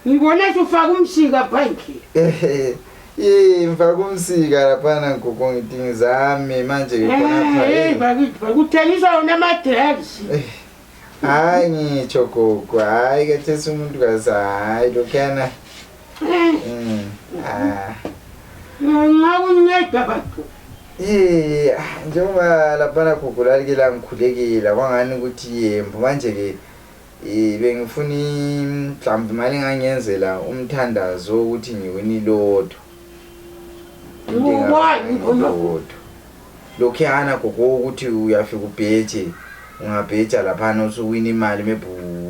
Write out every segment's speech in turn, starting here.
Ngibona sufaka umsika phandle. Ehe. Eh, mfaka umsika laphana ngigogo ngidingi zami manje ngikhona Eh, pha. eh, bakithi bakuthengiswa wona ama drugs. Eh, Hayi ngitsho gogo, hayi kathesi umuntu kaza hayi lokhana. Eh, Mm. Ah. nxa kunceda bathu. Eh, ah, njengoba laphana gogo lalikela ngikhulekela kwangani ukuthi yembo manje ke Eh, bengifuna im- mhlawumbe imali engangenzela umthandazo wokuthi ngiwina iloto Why? iloto lokhuyana gogo wokuthi uyafika ubheje ungabheja laphana usuwina imali maybe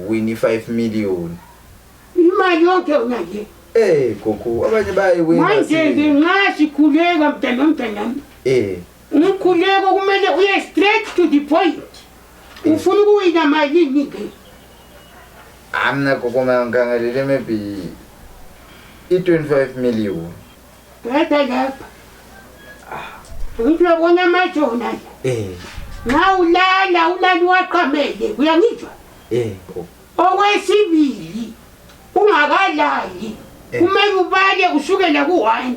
uwina i-five million imali yonke unaye Eh gogo abanye bayiwina manje-ke nxa sikhuleka mntanomntanami um umkhuleko kumele uye straight to the point ufuna ukuwina malini ke amna kokoma ngangalele maybe i-25 million bheda lapha ngiyabona amajona eh na ulala ulala waqamele uyangizwa eh okwesibili ungakalali eh. kumele ubale usukela ku-one